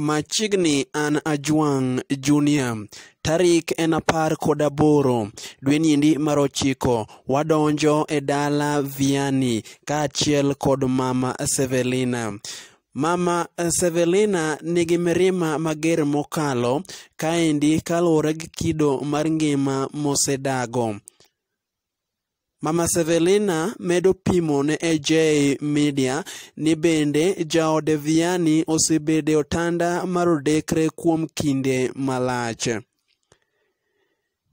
Machiegni an Ajwang' Junior. Tarik en apar kod aboro dwe niendi mar ochiko wadonjo e dala Viani kaachiel kod mama Sevelina. Mama Sevelina nigi mirima mager mokalo kaendi kaluwore gi kido mar ngima mosedago. Mama Sevelina medo pimo ne AJ Media ni bende jaode Vianney osebedo e otanda mar odekre kuom kinde malach.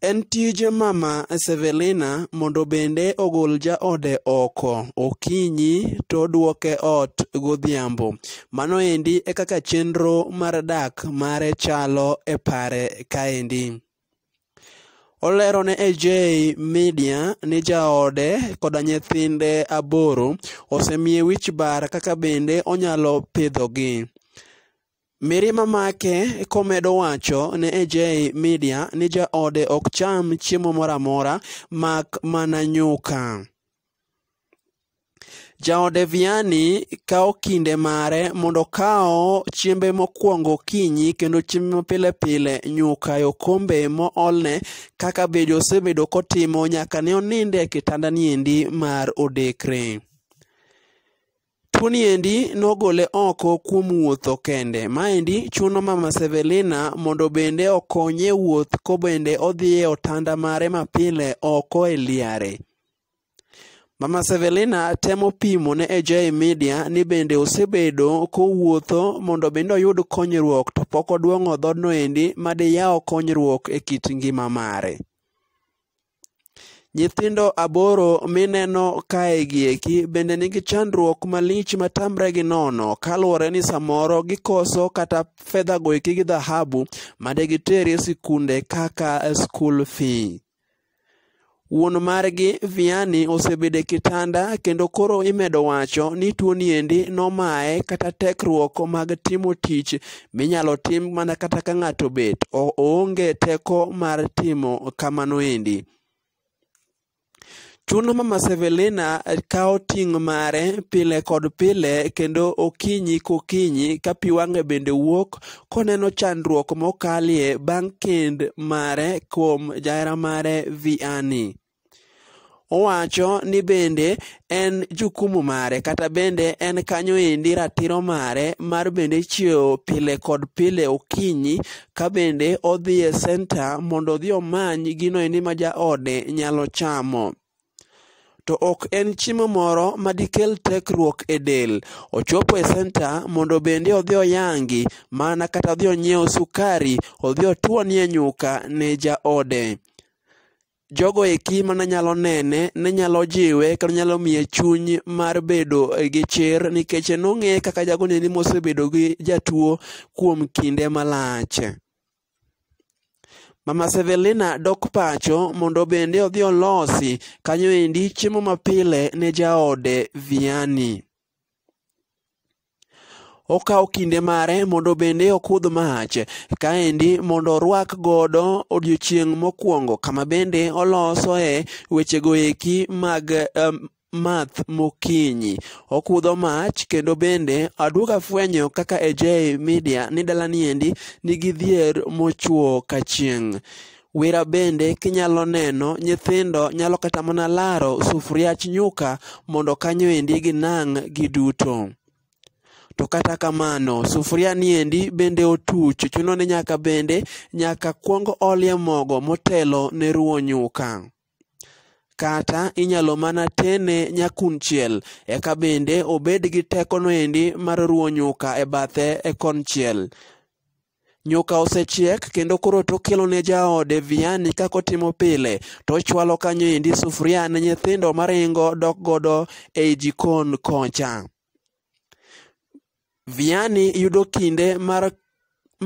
En tij Mama Sevelina mondo bende ogol jaode oko okinyi to odwoke ot godhiambo. Mano endi e kaka chenro mar dak mare chalo e pare kaendi. Olero ne AJ Media ni jaode koda nyithinde aboro osemiye wich bar kaka bende onyalo pidhogi. Mirima make komedo wacho ne AJ Media ni jaode ok cham chiemo moro amora mak mana nyuka. Jaode Vianney kawo kinde mare mondo okaw chiembe mokwongo okinyi kendo chiembe mapile pile nyuka e okombe moolne kaka be osebedo kotimo nyaka ne oninde e kitandani endi mar odekre. Tuoni endi nogole oko kuom wuotho kende. Maendi chuno Mama Sevelina mondo bende okonye wuoth kobende odhi e otanda mare mapile oko e liare. Mama Sevelina temo pimo ne AJ Media ni bende osebedo kowuotho mondo bende oyud konyruok to pok oduong'o dhodno endi madiyaw konyruok e kit ngima mare. Nyithindo aboro mineno kae gi eki bende nigi chandruok malich ma tamre gi nono kaluwore ni samoro gikoso kata fedha go eki gi dhahabu ma de giter e sikunde kaka school fee. Wuon margi Viani osebedo e kitanda kendo koro imedo wacho ni tuoni endi nomaye kata tekruok mag timo tich minyalo tim mana kata ka ng'ato bet oonge teko mar timo kamano endi. Chuno mama Sevelina kawo ting' mare pile kod pile kendo okinyi kokinyi ka pi wang'e bende wuok koneno chandruok mokalie bang' kend mare kuom jahera mare Vianney. Owacho ni bende en jukumu mare kata bende en kanyo endi ratiro mare mar bende chiewo pile kod pile okinyi ka bende odhi e senta mondo odhi omany gino endi ma jaode nyalo chamo. To ok en chiemo moro ma dikel tekruok e del. Ochopo e senta mondo bende odhi oyangi mana kata odhi onyiew sukari odhi otuonie nyuka ne jaode. jogo eki mane nyalo nene ne nyalo jiwe kendo nyalo miye chuny mar bedo gi chir nikech nong'e kaka jagoni ni mosebedo gi jatuo kuom kinde malach mama sevelina dok pacho mondo bende odhi olosi kanyo endi chiemo mapile ne jaode viani okawo kinde mare mondo bende okudh mach kaendi mondo orwak godo odiochieng' mokwongo kama bende olosoe wechego eki mag um, math mokinyi okudho mach kendo bende aduog afwenyo kaka AJ Media ni dalani endi nigi dhier mochwo kachieng' Wira bende kinyalo neno, nyithindo nyalo kata mana laro sufuriach nyuka mondo kanyo endi ginang' giduto. To kata kamano, sufuria ni endi bende otuch, chuno ni nyaka bende nyaka kwong olie mogo motelo ne ruwo nyuka. Kata inyalo mana tene nyakunchiel, eka bende obed gi tekono endi mar ruwo nyuka e bathe e konchiel. Nyuka osechiek kendo koro tokelo ne jaode viani kaka otimo pile, to ochwalo kanyo endi sufuria ne nyithindo maringo dok godo ei jikon kocha. Viani yudo kinde mar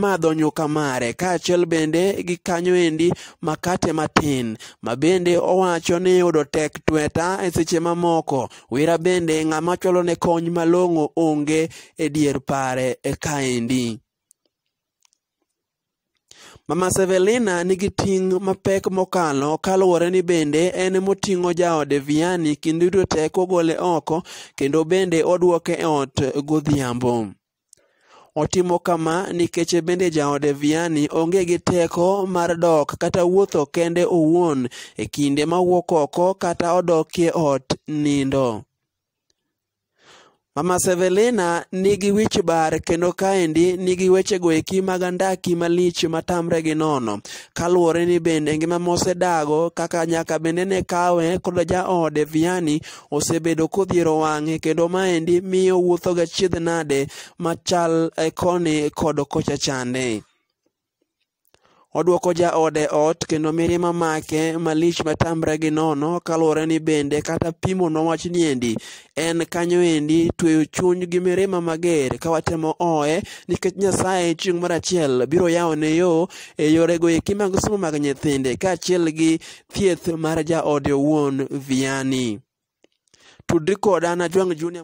madho nyuka mare kaachiel bende gi kanyo endi makate matin ma bende owacho ni yudo tek tweta e seche mamoko wira bende ng'ama chwalo ne kony malong'o onge e dier pare e kaendi. Mama Sevelina nigi ting' mapek mokalo kaluwore ni bende en moting'o jaode Vianney kinde duto te kogole oko kendo bende odwoke e ot godhiambo. Otimo kama nikech bende jaode Vianney onge gi teko mar dok kata wuotho kende owuon e kinde ma wuok oko kata odokie ot nindo. Mama Sevelina nigi wich bar kendo kaendi nigi wechego eki mag andaki malich matamre gi nono kaluwore ni bende ngima mosedago kaka nyaka bende ne kawe kod jaode Vianney osebedo kodhiero wang'e kendo maendi miyo wuothoga chiedh nade machal eh, koni kod kocha chande. Odwoko jaode ot kendo mirima make malich matamre gi nono kaluwore ni bende kata pimo nowach ni endi en kanyo endi tweyo chuny gi mirima mager ka watemo oye nikech Nyasaye chieng' mar achiel biro yawone yo e yorego eki mag somo mag nyithinde kaachiel gi thieth mar jaode owuon Vianney. Tudri koda na Jwang' Junior.